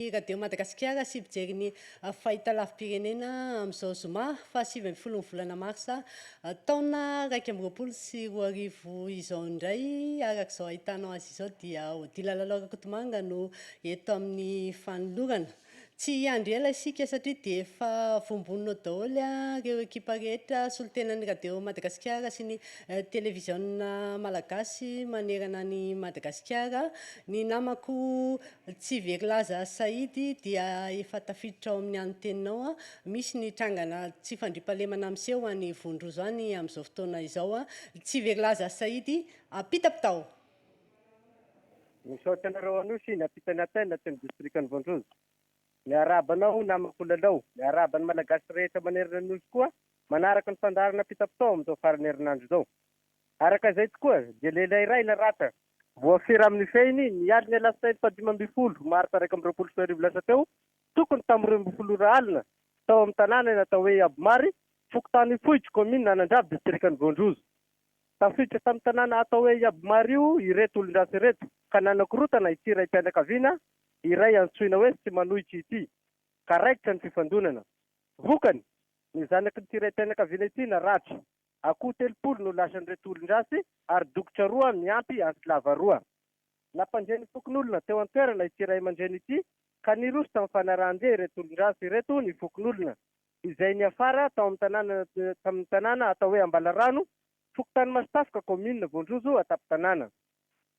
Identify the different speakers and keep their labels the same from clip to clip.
Speaker 1: ny Radio Madagasikara sy mpijery ny fahitalavi-pirenena amin'izao zoma fahasivy ambin'ny folon'ny volana marsa taona iraika amby roapolo sy roa arivo izao indray. Araka izao ahitanao azy izao dia Odila Lalao Rakotomanga no eto amin'ny fanolorana. Tsy hiandry ela isika satria dia efa voamboninao daholo ireo ekipa rehetra solontenan'ny Radio Madagasikara sy ny televiziona malagasy manerana an'i Madagasikara. Ny namako Tsy very laza sahidy dia efa tafiditra ao amin'ny an'ny teninao an. Misy ny trangana tsy fandriampahalemana miseho any Vondrozo any amin'izao fotoana izao an. Tsy very laza sahidy ampitapitao.
Speaker 2: Misaotra anareo Anosy nampita ny Athènes aty amin'ny distrikan'i Vondrozo. Miarahaba anao namako Lalao. Miarahaba ny Malagasy rehetra manerana ny Nosy koa manaraka ny fandaharana ampitapitao amin'izao faran'ny herinandro izao. Araka izay tokoa dia lehilahy iray naratra Voafehy raha nifehiny, ny alin'ny alatsinainy fahadimy ambin'ny folo martsa iraika amby roapolo sy roa arivo lasa teo, tokony tamin'ny roa ambin'ny folo ora alina, tao amin'ny tanàna eny atao hoe Abomary, fokontany Ifoiky, kaominina Anandrabo, distrikan'i Voanjozo. Tafiditra tamin'ny tanàna atao hoe Iabomary io ireto olon-dratsy ireto, ka nanakorontana ity raim-pianakaviana iray antsoina hoe Tsy Manohitra ity, ka raikitra ny fifandonana. Vokany, ny zanaky ity raim-pianakaviana ity naratra. Akoho telopolo no lasan'ireto olon-dratsy ary dokotra roa miampy antsy lava roa. Nampandre ny fokonolona teo an-toerana ity ray aman-dreny ity ka niroso tamin'ny fanarahan-dia ireto olon-dratsy ireto ny fokonolona izay niafara tao amin'ny tanàna tamin'ny tanàna atao hoe Ambalarano, fokontany Masitafoka, kaominina Voanjozo an-tampon-tanàna.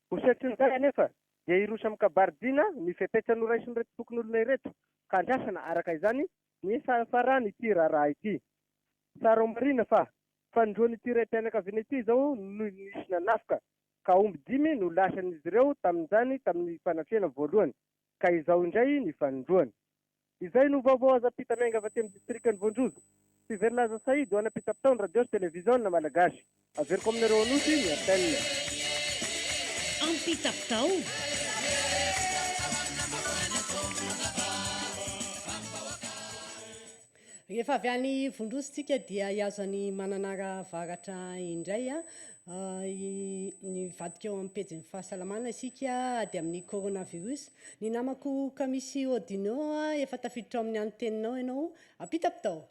Speaker 2: Ho setrin'izay anefa dia hiroso amin'ny kabaridina ny fepetra noraisin'ireto fokonolona ireto ka andrasana araka izany ny fahafaran'ity raharaha ity. Tsara ho marina fa fanindroan'ity raim-pianakaviana ity izao no nisy nanafika, ka omby dimy no lasan'izy ireo tamin'izany tamin'ny fanafihana voalohany, ka izao indray ny fanindroany. Izay no vaovao azo ampita miainga avy aty amin'ny distrikan'i Voanjozo. Tsiverlaza Saïd ho ana pitapitao ny radio sy televiziona malagasy. Averiko aminareo Anosy ny appel. Ampitako
Speaker 1: tao. Rehefa avy any Ivondroa isika dia hihazo an'i Mananara Avaratra indray an, hivadika eo amin'ny pejin'ny fahasalamana isika ady amin'ny coronavirus. Ny namako Kamisy Odino an, efa tafiditra ao amin'ny antenina ao ianao, ampitako tao.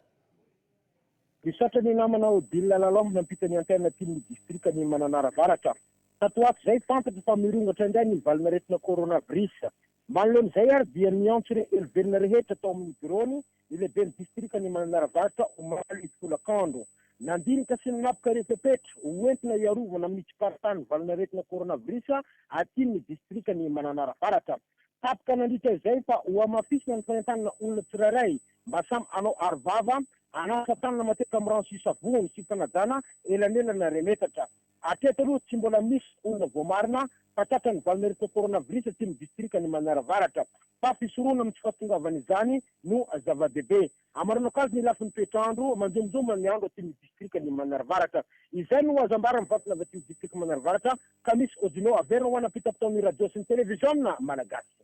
Speaker 3: Misaotra ny namana Odile Lalande nampita ny antennatin' ny distrikan' i Mananara Avaratra. Tato ato izay, fantatro fa mirongatra indray ny valin'aretina coronavirus. Manoloana izay ary dia niantso ireo helovelona rehetra tao amin'ny biraony ny lehiben'ny distrikan' i Mananara Avaratra, omaly tolakandro. Nandinika sy nanapoka ireo fepetra ho entina hiarovana amin'ny tsiparitahan'ny valin'aretina coronavirus atin' ny distrikan' i Mananara Avaratra. Tapaka nandritra izay fa hohamafisina ny fanentanana olona tsirairay Mba samy hanao aro vava, hanasa tanana matetika amin'ny rano sy savony sy fanajana elanelana ry metatra. Hatreto aloha tsy mbola misy olona voamarina fa tratran'ny valo ny aretina coronavirus aty amin'ny distrika ny Manara Avaratra. Fa fisorona amin'ny tsy fahatongavana izany no zava-dehibe. Hamarana kajy ny lafiny toetr'andro, manjomonjomona ny andro aty amin'ny distrika ny Manara Avaratra. Izay no azo ambara amin'ny vantana avy aty amin'ny distrika Manara Avaratra ka misy Odino averina ho ana-pitapitaon'ny radio sy ny televiziona malagasy.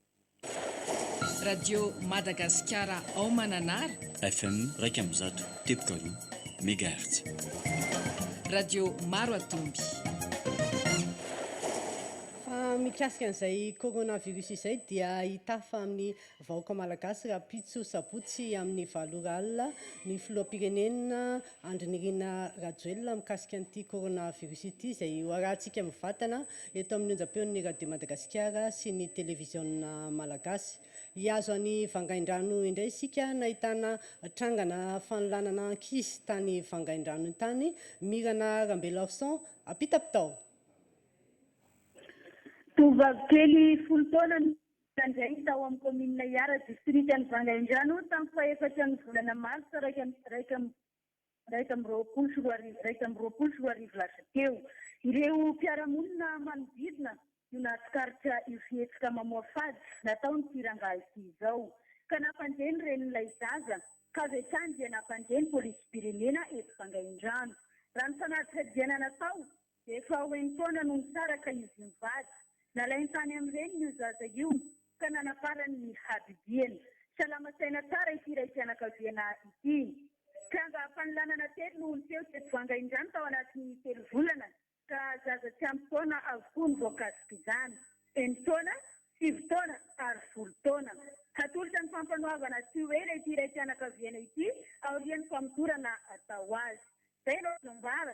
Speaker 4: Radio Madagasikara ao Mananara. FM iraika
Speaker 5: amby zato teboka roa megahertz.
Speaker 4: Radio Maroatomby.
Speaker 1: Fa mikasika an'izay coronavirus izay dia hitafa amin'ny vahoaka malagasy rahampitso sabotsy amin'ny valo ora alina ny filoham-pirenena Andry Nirina Rajoelina mikasika an'ity coronavirus ity izay hoarahantsika mivantana eto amin'ny onjam-peon'ny Radio Madagasikara sy ny Televiziona Malagasy. Hihazo an'i Vangaindrano indray isika nahitana trangana fanolanana ankizy tany Vangaindrano tany. Mirana Rambelarson, Apitapitao.
Speaker 6: Tovovavy kely folo taona no nitrandrainy tao amin'ny kaominina Ihara, distrikan'i Vangaindrano, tamin'ny fahefatran'ny volana martsa iraika amby iraika amby roapolo sy roa arivo iraika amby roapolo sy roa arivo lasa teo. Ireo mpiara-monina manodidina no nahatsikaritra io fihetsika mamoafady nataon'ity rangahy ity izao, ka nampandre ny renin'ilay zaza, ka avy hatrany dia nampandre ny Polisim-pirenena eto Vangaindrano. Raha ny fanadihadihana natao Efa ho enin-taona no nisaraka izy mivady. Nalainy tany amin'ny reniny io zaza io ka nanaparany ny habibiana. Salama saina tsara ity raim-pianakaviana ity. Tranga fanolanana telo no niseho teto Vanga indray tao anatin'ny telo volana ka zaza tsy ampy taona avokoa no voakasik'izany, enin-taona, sivy taona ary folo taona. Hatolotra ny fampanoavana tsy ho ela ity raim-pianakaviana ity aorian'ny famotorana atao azy. Izay no azo ambara.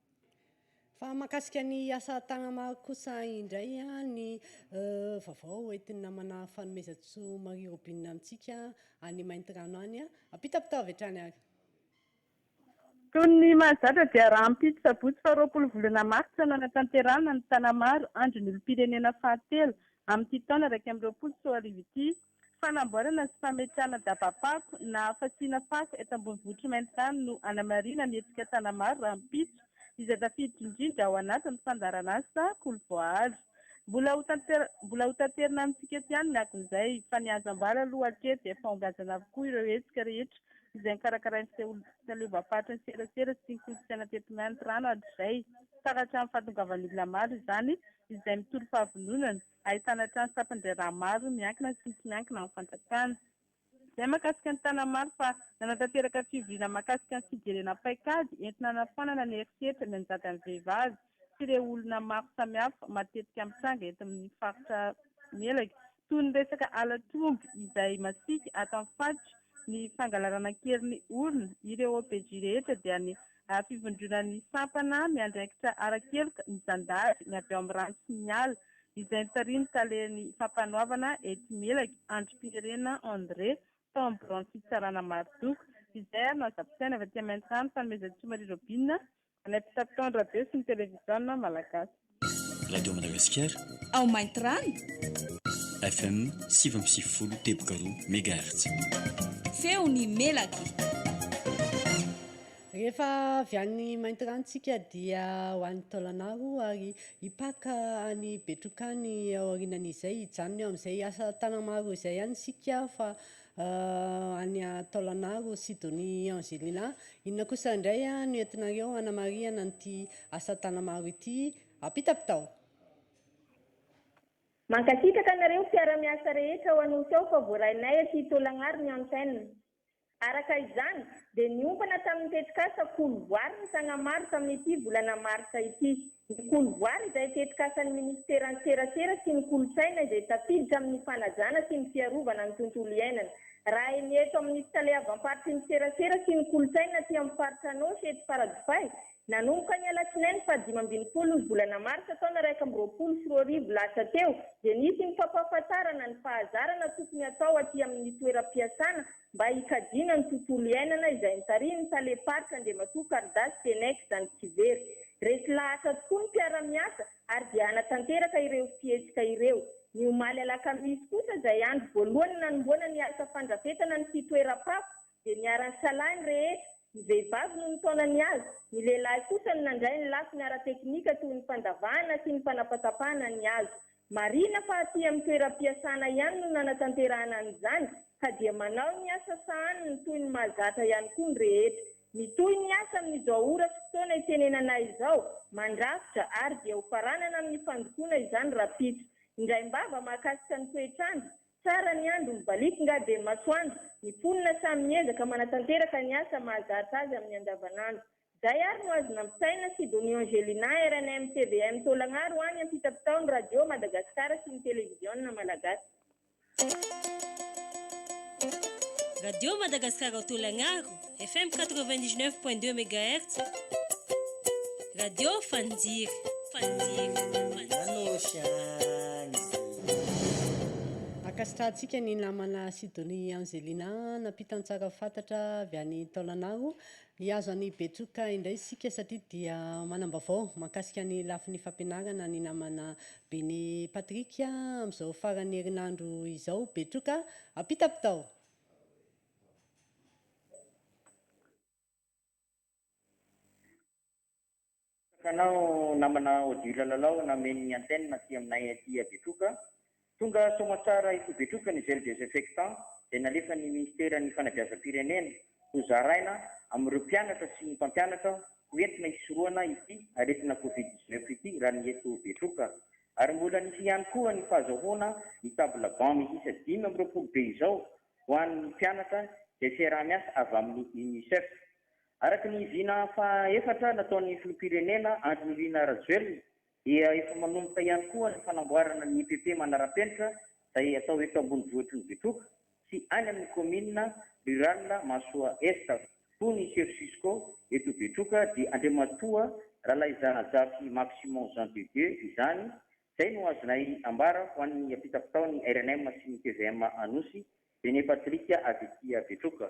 Speaker 1: Fa mahakasika ny asa tagnama kosa indray ny vaovao hoentin'ny namana Fanomezantsoa Marie Robine amintsika any Maintirano any, ampitapitao avy hatrany ary.
Speaker 6: Toy ny mahazatra dia rahampitso sabotsy faha roapolo volana martsa no hanatanterahana ny Tanamaro Andron'ny olom-pirenena fahatelo amin'ity taona iraika amby roapolo sy roa arivo ity. Fanamboarana sy fametrahana daba-pako na fasiana fako eto ambonivohitr'i Maintany no hanamarihana ny hetsika Tanamaro rahampitso, izay tafiditra indrindra ao anatin'ny fandaharan'asa Kolo Voahary. Mbola ho mbola ho taterina amintsika eto ihany ny akon'izay, fa ny azo ambara aloha hatreto dia fahongajana avokoa ireo hetsika rehetra izay nokarakarain'ny Seholim-pahaleovamparitra Antserasera sy ny kolontsaina teto Maintirano hatrizay, ka hatramin'ny fahatongavan'ny olona maro izany izay mitory fahavononana. Ahitana trano tampan-draharaha maro miankina sy tsy miankina amin'ny fanjakana. Izay mahakasika an'i Tanamaro fa nanatanteraka fivoriana mahakasika ny fijerena paikady entina hanafoanana ny herisetra mianjady amin'ny vehivavy sy ireo olona maro samihafa matetika mitranga eto amin'ny faritra Melaky toy ny resaka halatr'omby izay masiaka ato amin'ny faritra ny fangalarana an-keriny orina ireo OPJ rehetra dia ny ary fivondronan'ny sampana miandraikitra ara-keloka ny zandary ny avy ao amin'ny rano sy ny ala, izay notarihin'ny talen'ny Fampanoavana etsy Melaky, Andrimpiherena André, tao amin'ny biraon'ny fitsarana Marozoka, izay ary no azo ampisaina avy aty Maintany fanomezan-tsoa Marie Robine, ilay mpitantandra be sy ny televiziona malagasy. Radio
Speaker 5: Madagasikara. Ao Maintirano. FM sivy amby sivifolo teboka roa mégahertz. Feon'ny
Speaker 4: melaky.
Speaker 1: Rehefa avy any Maintirano tsika dia ho any Taolagnaro ary hipaka any Betroka any aorianan'izay hijanona eo amin'izay asa tana maro izay any isika fa any Taolagnaro, Sidonie Angelina. Inona kosa indray no entinareo hanamarihana an'ity asa Tagnamaro ity? Ampitapitao!
Speaker 6: Mankasitraka anareo mpiara-miasa rehetra ao Anosy ao fa voarainay aty Taolagnaro ny antenne. Araka izany, dia niompana tamin'ny tetikasa Kolo voary ny Tagnamaro tamin'ity volana marsa ity. Ny Kolovoary izay tetikasan'ny Minisiteran'ny Serasera sy ny Kolontsaina izay tafiditra amin'ny fanajana sy ny fiarovana ny tontolo iainana. Raha eny eto amin'ny fitaleavam-paritry ny Serasera sy ny Kolontsaina aty amin'ny faritra Anôsy eto Faradofay, nanomboka ny alatsinainy fahadimy ambin'ny folo ny volana marsa taona iraika amby roapolo sy roa arivo lasa teo dia nisy ny fampahafantarana ny fahazarana tokony hatao aty amin'ny toeram-piasana mba hikajiana ny tontolo iainana izay notarihin'ny talem-paritra Andriamatoa Karidas Tenex Zandrikivery. Resy lahatra tokoa ny mpiara-miasa ary dia hanatanteraka ireo fihetsika ireo. Ny omaly alakamisy kosa izay andro voalohany nanomboana ny asa fandrafetana ny fitoeram-pako dia niara-nisalahy ny rehetra, ny vehivavy no nitaona ny hazo, ny lehilahy kosa no nandray ny lafiny ara-teknika toy ny fandavahana sy ny fanapatapahana ny hazo. Marihina fa aty amin'ny toeram-piasana ihany no nanatanterahana an'izany ka dia manao ny asa sahaniny toy ny mahazatra ihany koa ny rehetra. Mitohy ny asa amin'izao ora sy fotoana itenenana izao, mandrafitra ary dia ho faranana amin'ny fandokoana izany rahampitso. Indraimbava mahakasika ny toetr'andro, tsara ny andro, mibaliaka nga dia ny masoandro, ny mponina samy miezaka manatanteraka ny asa mahazatra azy amin'ny andavanandro. Izay ary no azo nampisaina Sidonie Angelina, rnm tvm Taolagnaro any ampitapitao ny Radio Madagasikara sy ny Televiziona Malagasy.
Speaker 7: Radio Madagasikara ao Taolagnaro, FM 99 point 2 megahertz, Radio Fanjiry, Fanjiry, Fanjiry.
Speaker 1: Ankasitrahantsika ny namana Sidonie Angelina nampitan-tsara fantatra avy any Taolagnaro. Hihazo an'i Betioka indray isika satria dia manam-baovao mahakasika ny lafiny fampianarana ny namana Beny Patrick amin'izao faran'ny herinandro izao. Betioka, apitapitao!
Speaker 8: Betsaka anao namana Odile Lalao nameno ny antenne aty aminay aty a Betroka. Tonga soamantsara eto Betroka ny gel desinfectant izay nalefan'ny Minisiteran'ny Fanabeazam-pirenena ho zaraina amin'ireo mpianatra sy ny mpampianatra ho entina hisorohana ity aretina covid dix neuf ity raha ny eto Betroka. Ary mbola nisy ihany koa ny fahazahoana ny table banc miisa dimy amby roapolo be izao ho an'ny mpianatra izay fiaraha-miasa avy amin'ny UNICEF. Araka ny vina faha efatra nataon'ny Filoham-pirenena Andry Nirina Rajoelina dia efa manomboka ihany koa ny fanamboarana ny EPP manara-penitra izay atao eto ambonivohitry ny Betroka sy any amin'ny Kaominina Rirala Mahasoa Est hoy ny Sefo Cisco eto Betroka dia Andriamatoa Ralaizanajafy Maximon Jean de Dieu izany izay no azonay ambara ho an'ny ampitapitao ny rnm sy ny tvm Anosy René Patrick avy ety Betroka.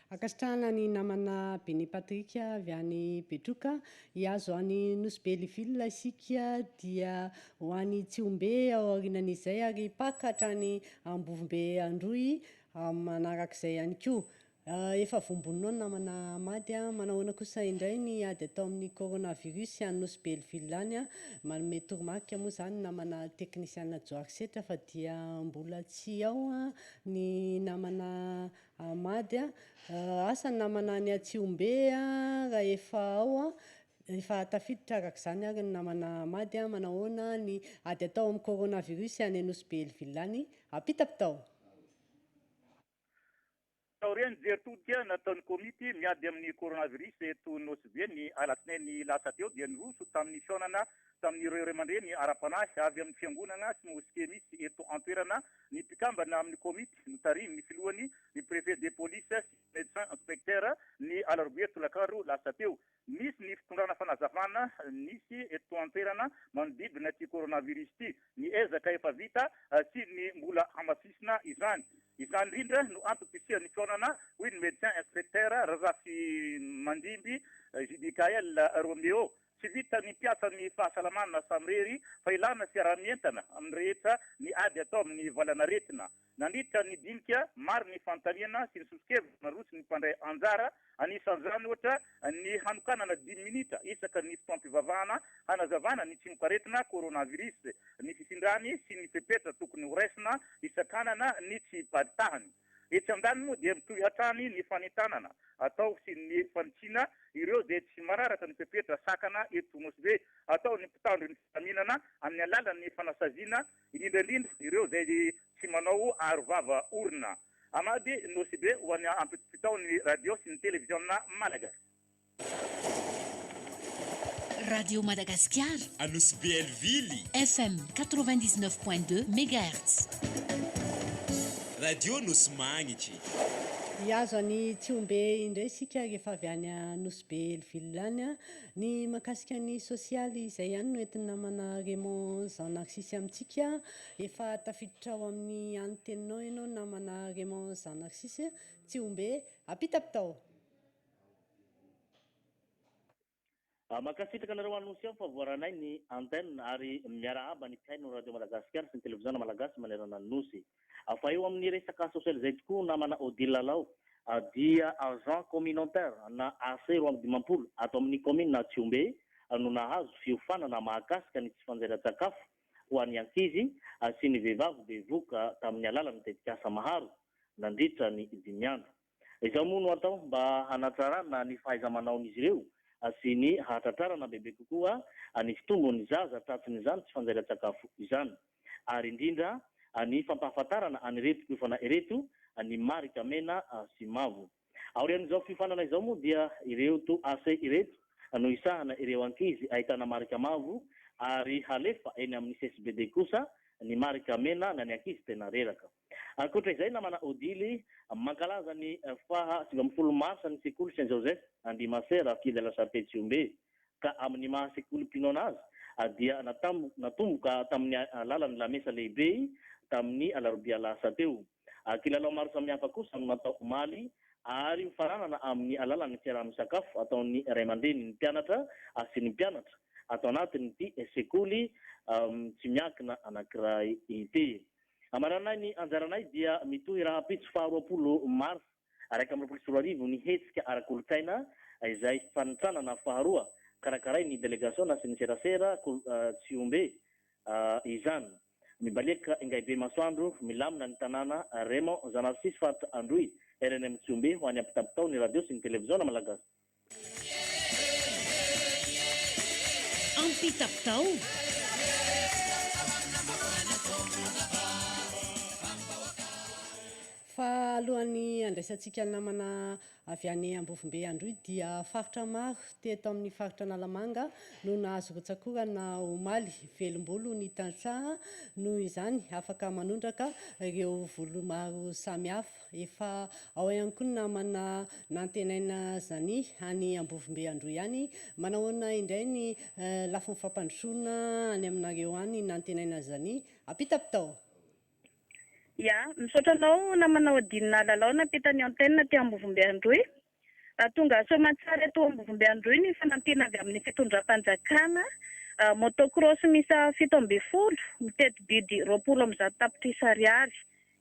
Speaker 1: Ankasitrahana ny namana Bene Patrick avy any Betroka. Hihazo any Nosy Be Liville isika dia ho any Tsihombe ao aorianan'izay ary Paka hatrany Ambovombe Androy manarak'izay ihany koa. Efa voamboninao ny namana Hamady a. Manahoana kosa indray ny ady atao amin'ny coronavirus any Nosy Be Liville any? Manome toromarika moa izany ny namana teknisiana Johary Setra fa dia mbola tsy ao ny namana Ahmad, Asa namana any Atsihombe rahefa ao, efa tafiditra araka izany ary ny namana Ahmad, manahoana ny ady atao amin'ny coronavirus any Nosy-Be El Villany apitaky tao?
Speaker 9: Taorian'ny jery todika nataon'ny komity miady amin'ny coronavirus eto Nosy-Be ny alatsinainy lasa teo dia niroso tamin'ny fihaonana tamin'ireo ray aman-dreny ara-panahy avy amin'ny fiangonana sy moske misy eto an-toerana ny mpikambana amin'ny komity notarihin'ny filohany ny préfet de police sy médecin inspecteur ny alarobia tolakandro lasa teo. Misy ny fitondrana fanazavana nisy eto an-toerana manodidina ity coronavirus ity, ny ezaka efa vita sy ny mbola hamafisina izany. Izany indrindra no antom-pisian'ny fihaonana, hoy ny médecin inspecteur Razafimandimby JBKL Roméo Tsy vitan'ny mpiasan'ny fahasalamana samirery fa ilana fiaraha-mientana amin'ny rehetra ny ady atao amin'ny valanaretina. Nandritra ny dinika, maro ny fanontaniana sy ny sosokevitra naroson'ny mpandray anjara, anisan'izany ohatra ny hanokanana dimy minitra isaka ny fotoam-pivavahana hanazavana ny tsimokaretina coronavirus, ny fifindràny sy ny fepetra tokony horaisina hisakanana ny tsy hiparitahan'ny. Etsy andaniny moa dia mitohy hatrany ny fanentanana atao sy ny fanitsiana ireo izay tsy manaraka ny fepetra sakana eto Nosy-Be atao ny mpitandro ny filaminana amin'ny alalan'ny fanasaziana indrindra indrindra ireo izay tsy manao aro vava orona. Hamady Nosy-Be ho an'ny ampitopitao ny radio sy ny televiziona malagasy.
Speaker 10: Radio Madagasikara, Anosibe
Speaker 11: Elvily, FM 99.2
Speaker 10: megahertz. Radio
Speaker 11: Nosy Magnitry. Hihazo
Speaker 1: an'i Tsihombe indray isika rehefa avy any Anosibe Elvily any. Ny mahakasika ny sosialy izay ihany no entin'ny namana Raymond Jean Narcisse amintsika. Efa tafiditra ao amin'ny an'ny teninao ianao namana Raymond Jean Narcisse. Tsihombe, apitapitao.
Speaker 12: Mankasitraka anareo Anosy ao fa voaranay ny antenne ary miarahaba ny mpihaino radio Madagasikara sy ny televiziona Malagasy manerana ny Nosy. Fa eo amin'ny resaka sosialy izay tokoa namana Odile Lalao dia agent communautaire na AC roa amby dimampolo ato amin'ny kaominina Tsihombe no nahazo fiofanana mahakasika ny tsy fanjairan-tsakafo ho an'ny ankizy sy ny vehivavy bevoka tamin'ny alalan'ny tetikasa Maharo nandritra ny dimy andro. Izao moa no atao mba hanatsarana ny fahaiza-manaon'izy ireo sy ny hahatratrarana bebe kokoa ny fitombon'ny zaza tratsin'izany tsy fanjarian-tsakafo izany, ary indrindra ny fampahafantarana an'ireto mpiofana ireto ny marika mena sy mavo. Aorian'izao fiofanana izao moa dia ireo to ase ireto no hisahana ireo ankizy ahitana marika mavo ary halefa eny amin'ny CSBD kosa ny marika mena na ny ankizy tena reraka. Ankoatra izay, namana Odile, mankalaza ny faha sivy ambin'ny folo marsa ny sekoly Saint Joseph Andihimasera aty Ilala Sharpe Tsihombe, ka amin'ny maha sekolim-pinoana azy dia natomboka tamin'ny alalan'ny lamesa lehibe tamin'ny alarobia lasa teo. Kilalao maro samihafa kosa no natao omaly ary mifananana amin'ny alalan'ny fiaraha-misakafo ataon'ny ray aman-dreny ny mpianatra sy ny mpianatra ato anatin'ity sekoly tsy miankina anankiray ity. Hamaranay ny anjaranay dia mitohy rahampitso faha roapolo marsa iraika amby roapolo sy roa arivo ny hetsika ara-kolontsaina izay fanintsanana faharoa karakarain'ny delegasiona sy ny serasera kol tsiombe izany. Mibaliaka Ingaibe Masoandro milamina ny tanàna Raymond Zanarcisy faritra Androy rnm Tsiombe ho any ampitapitao ny radio sy ny televiziona malagasy.
Speaker 1: Fa alohan'ny handraisantsika ny namana avy any Ambovombe Androy dia faritra maro teto amin'ny faritra Analamanga no nahazo rotsak'orana omaly. Velombolo ny tantsaha noho izany afaka manondraka ireo volo maro samihafa. Efa ao ihany koa ny namana nantenaina zany any Ambovombe Androy any. Manahoana indray ny lafiny fampandrosoana any aminareo any nantenaina zany? Apitapitao.
Speaker 6: Ya, misaotra anao namana Odin Lalao nampita ny antenne aty Ambovombe Androy. Tonga soamantsara eto Ambovombe Androy ny fanampiana avy amin'ny fitondram-panjakana, motocross miisa fito ambin'ny folo, miteti-bidy roapolo amby zato tapitrisa ariary,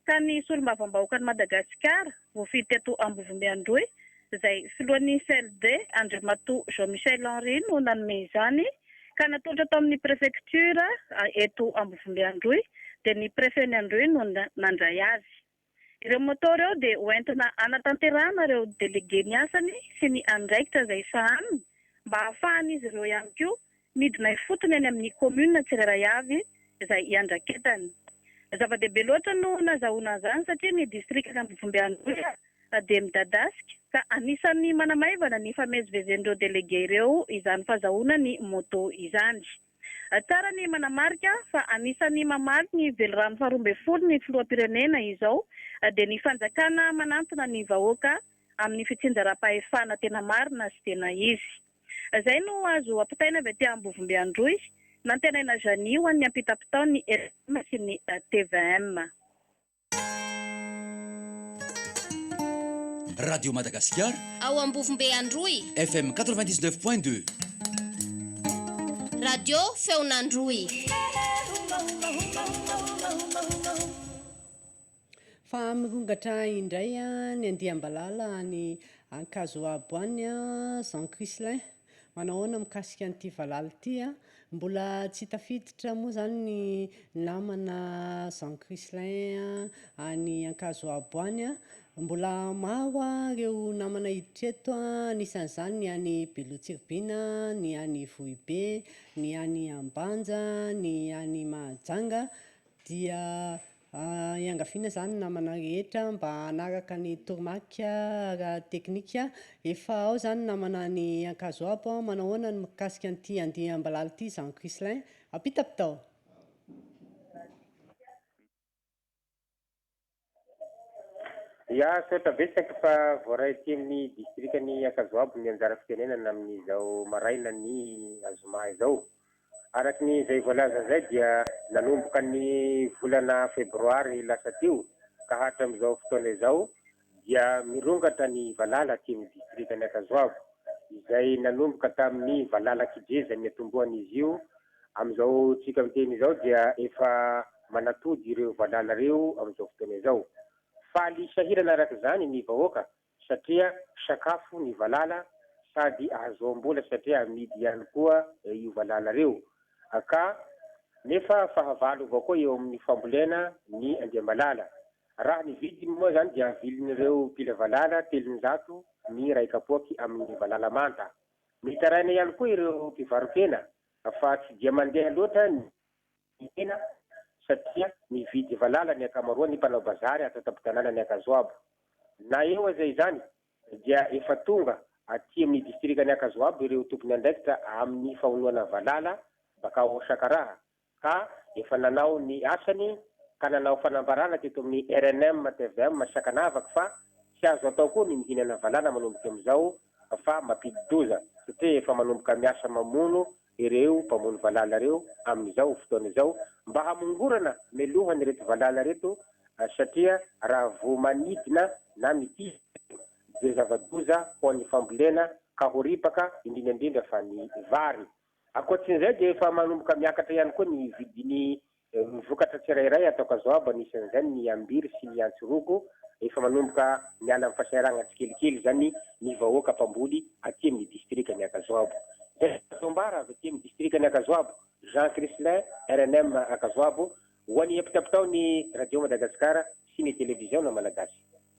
Speaker 6: ka ny Solombavambahoakan'i Madagasikara, voafidy teto Ambovombe Androy, izay filohan'ny CLD, Andriamatoa Jean Michel Henri no nanome izany, ka natolotra tao amin'ny Prefektiora eto Ambovombe Androy, dia ny Prefen'i Androy no nandray azy. Ireo moto ireo dia hoentina hanatanterahana ireo delege ny asany sy ny andraikitra izay sahaniny mba hahafahan'izy ireo ihany koa midina ifotony any amin'ny kaominina tsirairay avy izay iandraketany. Zava-dehibe loatra no nazahoana an'izany satria ny distrikan'i Ambovombe Androy dia midadasika ka anisan'ny manamaivana ny fifamezivezen'ireo delege ireo izany fahazahoana ny moto izany. Tsara ny manamarika fa anisan'ny mamaly ny velirano faharoa ambin'ny folo ny filoham-pirenena izao dia ny fanjakana manantona ny vahoaka amin'ny fitsinjaram-pahefana tena marina sy tena izy. Izay no azo ampitaina avy aty Ambovombe Androy nantenaina Janie ho an'ny ampitapitaon'ny LM sy ny tvm.
Speaker 5: Radio Madagasikara ao Ambovombe
Speaker 13: Androy, FM 99 point 2. Radio Feon'Androy.
Speaker 1: Fa mirongatra indray ny andiam-balala any Ankazoabo any, Jean Chrislin. Manahoana mikasika an'ity valala ity a? Mbola tsy tafiditra moa zany ny namana Jean Chrislain any Ankazoabo any a, mbola maro a reo namana hiditra eto a, anisan'izany ny any Beloha-Tsiribihina, ny any Vohibe, ny any Ambanja, ny any Mahajanga dia Iangaviana izany namana rehetra mba hanaraka ny toromarika ara-teknika. Efa ao izany namana any Ankazoabo. Manao ahoana ny mikasika an'ity andiam-balala ity Jean Chrislain? Ampitapitao.
Speaker 2: Ya, saotra betsaka fa voaray aty amin'ny distrikan'i Ankazoabo ny anjara fitenenana amin'izao maraina ny zoma izao. Araka ny izay voalaza izay dia nanomboka ny volana febroary lasa teo ka hatramin'izao fotoana izao dia mirongatra ny valala aty amin'ny distrikan'i Ankazoavo izay nanomboka tamin'ny valala kije izay niatombohana izy io amin'izao tsika miteny izao dia efa manatody ireo valala ireo amin'izao fotoana izao. Faly sahirana araka izany ny vahoaka satria sakafo ny valala sady ahazoam-bola satria amidy ihany koa io valala reo ka nefa fahavalo avao koa eo amin'ny fambolena ny andiam-balala. Raha ny vidiny moa izany dia vilin'ireo mpila valala telonjato ny iray kapoaky amin'ny valala manta. Mitaraina ihany koa ireo mpivarokena fa tsy dia mandeha loatra ny. Mihena satria mividy valala ny ankamaroan'ny mpanao bazary ato an-tampon-tanànan'i Ankazoabo. Na eo aza izany, dia efa tonga aty amin'ny distrikan'i Ankazoabo ireo tompon'andraikitra amin'ny famonoana valala bakao ao Sakaraha ka efa nanao ny asany ka nanao fanambarana teto amin'ny rnm tvm Sakanavaka fa tsy azo atao koa ny mihinana valala manomboka amin'izao fa mampidi-doza satria efa manomboka miasa mamono ireo mpamono valala ireo amin'izao fotoana izao mba hamongorana mialoha an'ireto valala ireto satria raha vao manidina na mitia ireto dia zava-doza ho an'ny fambolena ka ho ripaka indrindra indrindra fa ny vary. Ankoatrin'izay dia efa manomboka miakatra ihany koa ny vidin'ny Eo amin'ny
Speaker 3: vokatra tsirairay ato Kazoaba, anisan'izany ny Ambiry sy ny Antsy Rogo, efa manomboka miala amin'ny fahasahiranana tsikelikely izany ny vahoaka mpamboly aty amin'ny distrikan'i Ankazoabo. Izay no azo ambara avy aty amin'ny distrikan'i Ankazoabo. Jean Chrislin, rnm Ankazoabo, ho an'ny ampitapitaon'ny Radio Madagasikara sy ny Televiziona Malagasy.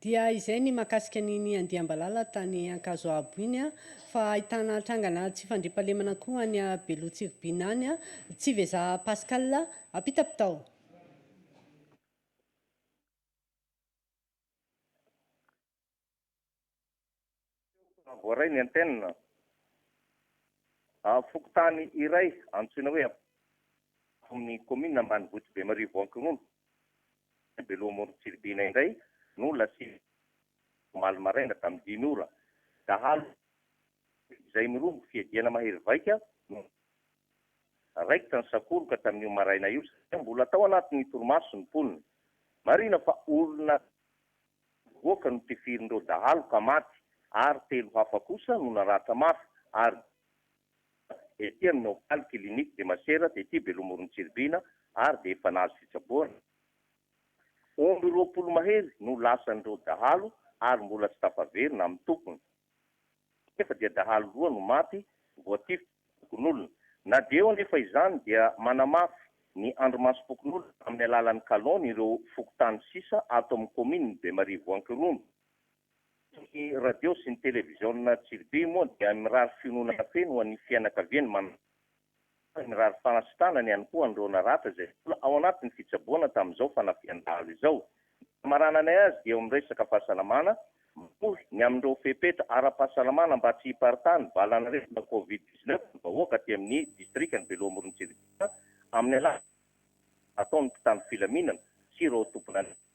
Speaker 1: Dia izay ny mahakasika an'iny andiam-balala tany Ankazoabo iny fa ahitana trangana tsy fandriampahalemana koa any Beloha Tsiribihina any, Tsiveja Pascal Ampitapitao.
Speaker 9: Teo voaray ny antenne fokontany iray antsoina hoe Ampofo amin'ny kaominina ambanivohitra Bemarivo Ankirondo, teny Beloha Amorontsiribihina indray no lasiana omaly maraina tamin'ny dimy ora. Dahalo vitsy izay mirongo fiadiana mahery vaika no raikitra ny sakoroka tamin'io maraina io satria mbola tao anatin'ny torimaso ny mponina. Marihina fa olona. Nivoaka ny tifirin'ireo dahalo ka maty ary telo hafa kosa no naratra mafy ary dia ety amin'ny hopitaly Clinique de Masera tety Beloha-Morontsiribina ary dia efa nahazo fitsaboana. Omby roapolo mahery no lasan'ireo dahalo ary mbola tsy tafaverina amin'ny tompony. Nefa dia dahalo roa no maty voatifitra. fokonolona. Na dia eo anefa izany dia manamafy ny andrimasom-pokonolona amin'ny alalan'ny kalon ireo fokontany sisa ato amin'ny kaominin'i Bemarivo Ankirono. Eto ny radio sy ny televiziona Tsiribey moa dia mirary fiononana feno ho an'ny fianakavian'ny manam-paty ary mirary fanasitrana ny ihany koa an'ireo naratra izay mbola ao anatin'ny fitsaboana tamin'izao fanafihan-dahalo izao. Ny famarananay azy dia eo amin'ny resaka fahasalamana, manohy ny amin'ireo fepetra ara-pahasalamana mba tsy hiparitahan'ny valan'aretina Covid dix neuf ny vahoaka aty amin'ny distrikan'i Beloha-Morontsirihana amin'ny alalan'ny fanampiana ataon'ny mpitandro filaminana sy ireo tompon'andraikitra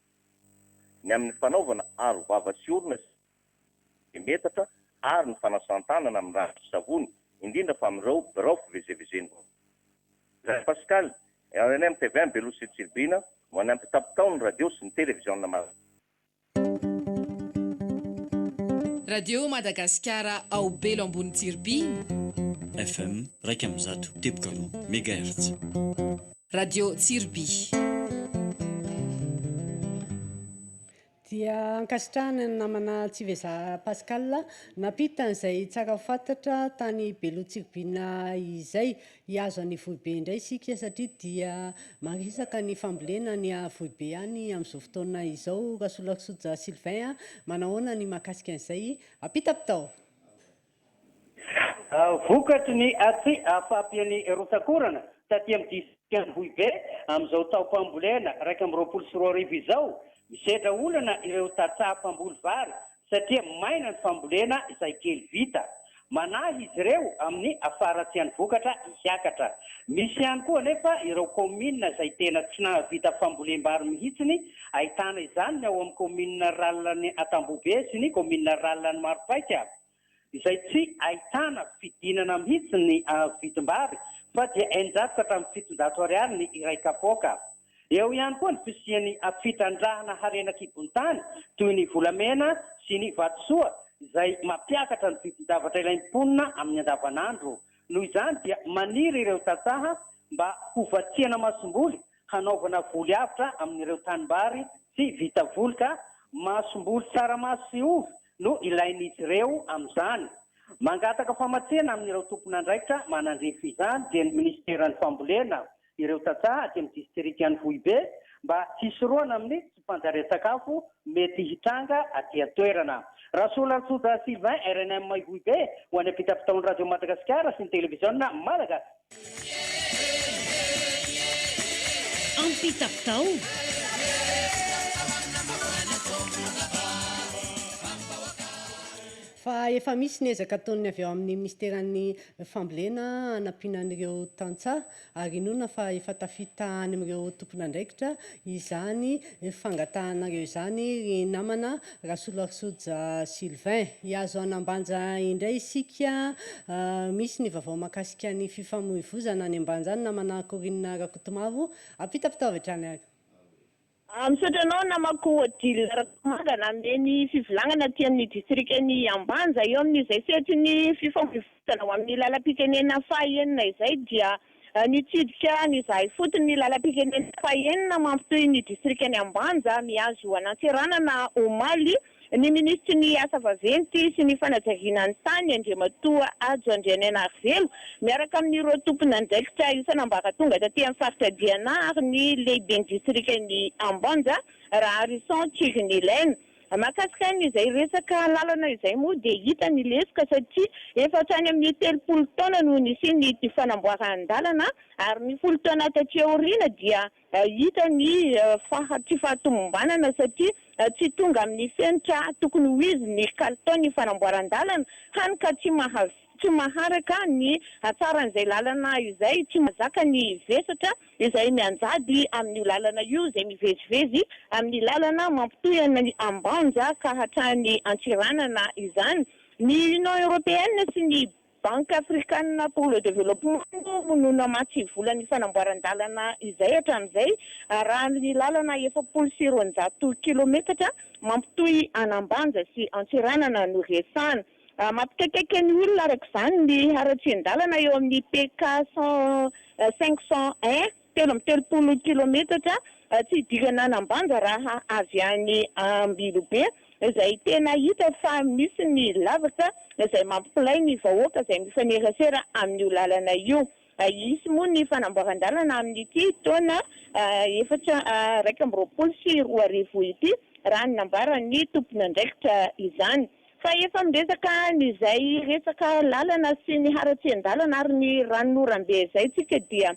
Speaker 9: ny amin'ny fanaovana aro vava sy orona sy metatra ary ny fanasan-tanana amin'ny rano sy savony, indrindra fa amin'ireo birao fivezevezen'ny vahoaka. Ndray Pascal, rnm Tevin Beloha sy Tsiribihina no any ampitapy tao ny radio sy ny televiziona malagasy.
Speaker 4: Radio Madagasikara ao Belo ambony Tsiribihina. FM
Speaker 5: iraika amby zato teboka roa megahertz.
Speaker 4: Radio Tsiribihina.
Speaker 1: Dia ankasitrahana ny namana Tsivezaha Pascal nampita an'izay tsara fantatra tany Belo Tsiribihina izay. Hihazo an'i Vohibe indray isika satria dia maresaka ny fambolena any Vohibe any amin'izao fotoana izao. Rasolarisoja Sylvain a! manahoana ny mahakasika an'izay? Ampita bitao!
Speaker 14: Vokatry ny tsy fahampian'ny rotsak'orana taty amin'ny disitrikan'Ambohibe amin'izao taom-pambolena iraika amby roapolo sy roa arivo izao, misedra olana ireo tantsaha mpamboly vary satria maina ny fambolena izay kely vita. Manahy izy ireo amin'ny faharatsian'ny vokatra hiakatra. Misy ihany koa anefa ireo kaominina izay tena tsy nahavita fambolem-bary mihitsiny, ahitana izany ny ao amin'ny kaominina rurale-n'ny Antambohibe sy ny kaominina rurale-n'ny Maropaika. izay tsy ahitana fidinana mihitsy ny vidim-bary fa dia eninjato ka hatramin'ny fitonjato ariary ny iray kapoaka. Eo ihany koa ny fisian'ny fitrandrahana harena kibon-tany toy ny volamena sy ny vatosoa izay mampiakatra ny vidin-javatra ilain'ny mponina amin'ny andavanandro. Noho izany dia maniry ireo tantsaha mba ho vatsiana masomboly hanaovana voly avotra amin'ireo tanimbary tsy vita voly ka masomboly tsaramaso sy ovy no ilain'izy ireo amin'izany. Mangataka famatsiana amin'ireo tompon'andraikitra manandrify izany dia ny minisiteran'ny fambolena ireo tantsaha aty amin'ny distrikan'i Foibe mba hisorohana amin'ny tsy fanjarian-tsakafo mety hitranga aty an-toerana. Rasolantsoja Sylvain, rnm Ivohibe, ho any am-pitapitaon'ny Radio Madagasikara sy ny Televiziona Malagasy.
Speaker 7: Am-pitapitao.
Speaker 1: Fa efa misy ny ezaka ataon'ny avy ao amin'ny Minisiteran'ny Fambolena hanampiana an'ireo tantsaha ary inoana fa efa tafita any amin'ireo tompon'andraikitra izany fangatahanareo izany ry namana Rasolarisoja Sylvain. Hihazo an'Ambanja indray isika, misy ny vaovao mahakasika ny fifamoivozana any Ambanja any namana Corine Rakotomavo, ampitapitao avy hatrany ary. A, Misaotra
Speaker 15: anao namako Odile Rakotomanga nanome ny fivolagnana aty amin'ny distrikan'i Ambanja eo amin'ny izay sehatry ny fifamoivoizana ho amin'ny lalam-pitenenana faha enina izay dia nitsidika an' izahay fotony ny lalam-pitenenana faha enina mampitohy ny distrikan'i Ambanja mihazo an'Antsiranana omaly Ny minisitry ny Asa vaventy sy ny fanajariana ny tany, Andriamatoa Hajo Andrianainarivelo, miaraka amin'ireo tomponandraikitra isan'ambaratonga taty amin'ny faritra Diana ary ny lehiben'ny distrikan'i Ambanja, Raharison Chirinelaine. Mahakasika an'izay resaka lalana izay moa dia hita ny lesoka satria efa hatrany amin'ny telopolo taona no nisian'ity fanamboaran-dalana ary ny folo taona taty aoriana dia Hita ny tsy fahatomombanana satria tsy tonga amin'ny fenitra tokony ho izy ny kalitaon'ny fanamboaran-dalana, hany ka tsy tsy maharaka ny hatsaran'izay lalana izay, tsy mahazaka ny vesatra izay mianjady amin'io lalana io izay mivezivezy amin'ny lalana mampitohy an'i Ambanja ka hatrany Antsiranana izany. Ny Union Européenne sy ny. Banque Africane pour le Développement moa no namatsy vola ny fanamboaran-dalana izay hatramin'izay arahan'ny ny lalana efapolo sy roanjato kilometatra mampitohy an'Ambanja sy Antsiranana no resahana. Mampikaikaika ny olona araka izany ny haratsian-dalana eo amin'ny PK cent cinq cent un. Telo amby telopolo kilometatra tsy hidirana an'Ambanja raha avy any Ambilobe izay tena hita fa misy ny lavaka izay mampilay ny vahoaka izay mifanerasera amin'io lalana io. Hisy moa ny fanamboaran-dalana amin'ity taona efatra iraika amby roapolo sy roa arivo ity raha ny nambaran'ny tompon'andraikitra izany fa efa miresaka an'izay resaka lalana sy ny haratsian-dalana ary ny ranonorambe izay tsika dia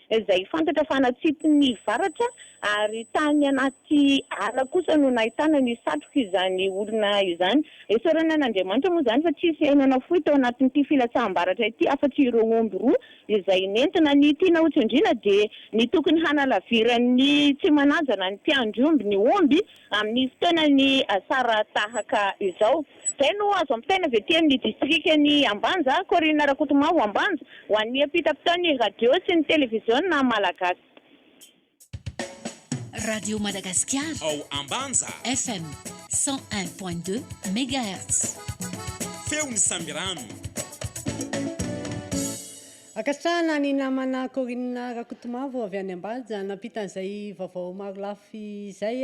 Speaker 15: izay fantatra fa natsipy ny varatra ary tany anaty ala kosa no nahitana ny satrok'izany olona izany. Esorina an' Andriamanitra moa izany fa tsy hisy aina nafoy tao anatin'ity filatsaham-baratra ity afa-tsy ireo omby roa izay nentina. Ny tiana hotsindriana dia ny tokony hanalaviran'ny tsy manaja na ny mpiandry omby ny omby amin'ny fotoanan'ny asara tahaka izao. Izay no azo ampitaina avy ety amin'ny distrikan'i Ambanja, kaorinina Rakotomavo Ambanja, ho an'ny ampitam-pitaon'ny radio sy ny televiziona malagasy.
Speaker 10: Radio Madagasikara ao Ambanja.
Speaker 11: FM 101.2
Speaker 10: megahertz. Feon'ny
Speaker 11: Sambirano.
Speaker 1: Ankasitrahana ny namana kaorinina Rakotomavo avy any Ambanja nampita an'izay vaovao marolafy izay.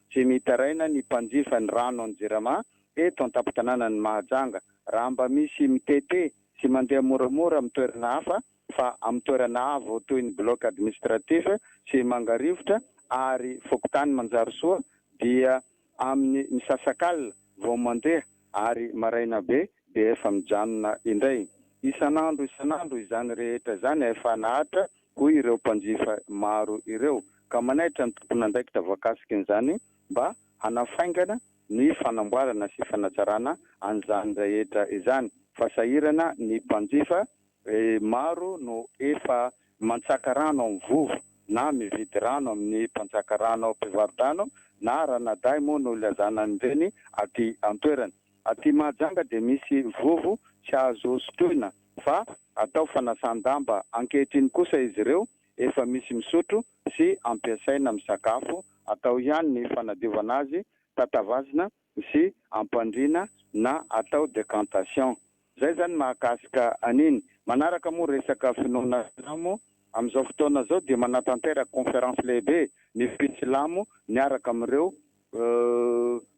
Speaker 16: Tsy mitaraina ny mpanjifa ny rano any Jirama eto an-tampon-tanànan'i Mahajanga raha mba misy mitete sy mandeha moramora amin'ny toerana hafa fa amin'ny toerana avo toy ny Bloc Administratif sy Mangarivotra ary Fokontany Manjarisoa dia amin'ny misasakalina vao mandeha ary maraina be dia efa mijanona indray. Isan'andro isan'andro izany rehetra izany efa nahatra hoy ireo mpanjifa maro ireo, ka manaitra ny tomponandraikitra voakasiky izany mba hanafaingana ny fanamboarana sy fanatsarana an'izany rehetra izany, fa sahirana ny mpanjifa maro no efa mantsaka rano amin'ny vovo na mividy rano amin'ny mpanjaka rano mpivarodrano na ranadahy moa no ilazana an'ireny aty an-toerana. Aty Mahajanga dia misy vovo tsy azo sotroina fa Atao fanasan-damba ankehitriny kosa izy ireo, efa misy misotro sy ampiasaina amin'ny sakafo, atao ihany ny fanadiovana azy, tatavazina sy ampandriana na atao decantation. Izay izany mahakasika an'iny. Manaraka moa resaka finoana silamo, amin'izao fotoana izao dia manatanteraka conférence lehibe ny mpitsilamo miaraka amin'ireo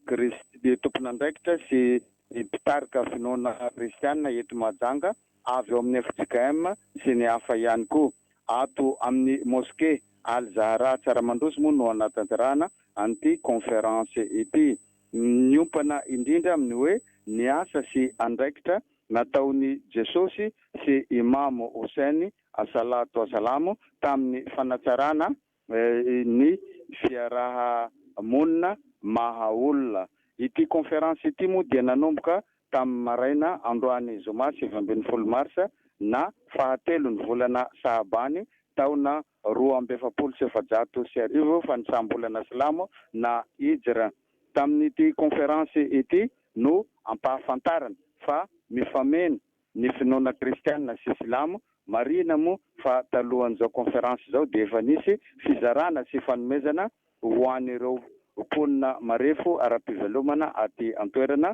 Speaker 16: Kris, tompon'andraikitra sy ny mpitarika finoana kristiana eto Mahajanga avy ao amin'ny fjkm sy ny hafa ihany koa. Ato amin'ny Mosquée Al Zahra Tsaramandroso moa no hanatanterahana an'ity conférence ity. Miompana indrindra amin'ny hoe ny asa sy andraikitra nataon'i Jesosy sy Imam Houssein, As-Salatu Wassalam, tamin'ny fanatsarana ny fiaraha-monina maha olona. Ity conférence ity moa dia nanomboka tamin'ny maraina androany zoma sivy ambin'ny folo marsa na fahatelon'ny volana sahabany taona roa amby efapolo sy efajato sy arivo fanisam-bolana silamo na hijra. Tamin'ity conférence ity no ampahafantarana fa mifameno Ny finoana kristiana sy silamo, marihina moa fa talohan'izao conférence izao dia efa nisy fizarana sy fanomezana ho an'ireo mponina marefo ara-pivelomana aty an-toerana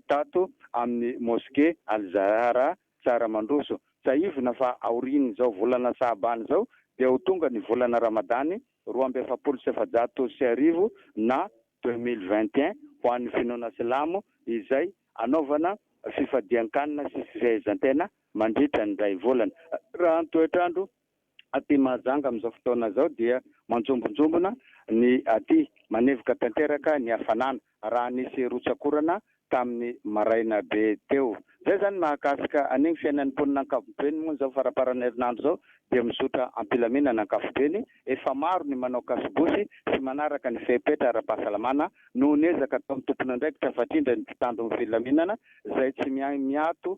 Speaker 16: tato amin'ny mosquée Al-Zahra Tsaramandroso. Tsahivina fa aorian'izao volana Sahabany izao dia ho tonga ny volana Ramadany roa amby efapolo sy efajato sy arivo na deux mille vingt et un ho an'ny finoana silamo izay hanaovana fifadian-kanina sy fifehezan-tena mandritra ny iray volana. Raha ny toetr'andro aty Mahajanga amin'izao fotoana izao dia manjombonjombona ny aty, manevoka tanteraka ny hafanana. raha nisy rotsak'orana tamin'ny maraina be teo. Izay izany mahakasika an'iny fiainan'ny mponina ankapobeny moa izao faramparan'ny herinandro izao dia mizotra am-pilaminana ankapobeny, efa maro ny manao kasobosy sy manaraka ny fepetra ara-pahasalamana noho ny ezaka ataon'ny tompon'andraikitra fatrindra ny mpitandro ny filaminana izay tsy miahy miato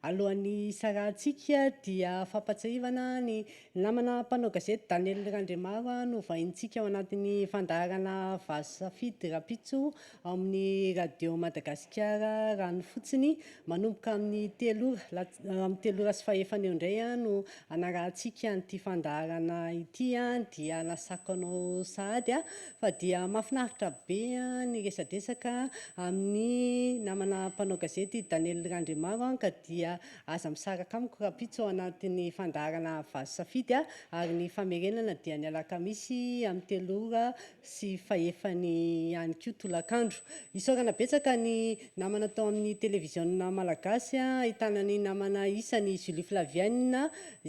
Speaker 1: Alohan'ny hisarahantsika dia fampahatsiahivana ny namana mpanao gazety Daniel Randriamaro novaintsika ao anatin'ny fandaharana Vazo Safidy rahampitso ao amin'ny Radio Madagasikara rano fotsiny manomboka amin'ny telo ora la amin'ny telo ora sy fahefany eo indray no hanarahantsika an'ity fandaharana ity dia nasako anao sahady Fa dia mahafinaritra be ny resadresaka amin'ny namana mpanao gazety Daniel Randriamaro an, ka dia aza misaraka amiko rahampitso ao anatin'ny fandaharana Vazo Safidy an, ary ny famerenana dia ny alakamisy amin'ny telo ora sy fahefany ihany koa tolakandro. Isaorana betsaka ny namana tao amin'ny televiziona malagasy an, ahitana ny namana isany Julie Flavienne,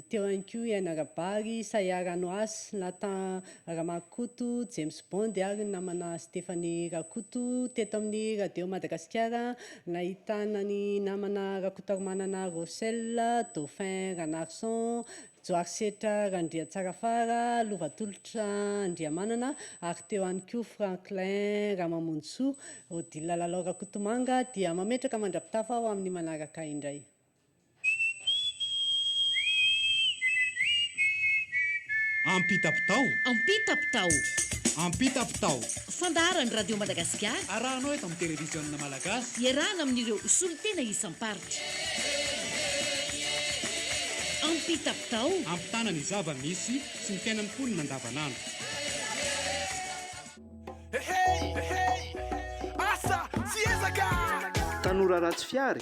Speaker 1: teo ihany koa i Aina Rabary, Sayar Anouas, Nathan Ramakoto James Bond ary ny namana Stephanie Rakoto teto amin'ny Radio Madagasikara nahitana ny namana Rakotoarimanana Rossel, Dauphin Ranarison, Joarisetra Randriantsarafara, Lovatolotra Andriamanana ary teo ihany koa Franklin Ramamonjisoa. Odile Lalao Rakotomanga dia mametraka mandra-pitafa ho amin'ny manaraka indray.
Speaker 11: Ampitapitao. Ampitapitao.
Speaker 10: Ampitapitao.
Speaker 11: Fandaharan'ny
Speaker 10: Radio Madagasikara. Arahanao eto amin'ny
Speaker 11: Televiziona Malagasy. Iarahana amin'ireo
Speaker 10: solontena isam-paritra. Ampitapitao. Ampitana ny
Speaker 11: zava-misy sy ny fiainan'ny mponina andavanandro.
Speaker 17: Tanora
Speaker 18: ratsy fihary,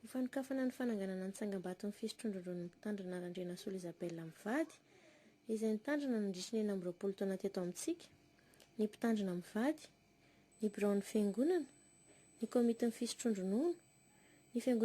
Speaker 19: Ho fanokafana ny fananganana ny tsangambaton'ny fisotroan-drondronon'ny mpitandrina Randrianasolo Isabelle mivady, izay nitandrina nandritry ny enina amby roapolo taona teto amintsika, ny mpitandrina mivady, ny biraon'ny Fiangonana, ny Komitin'ny Fisotroan-dronono, ny Fiangonana,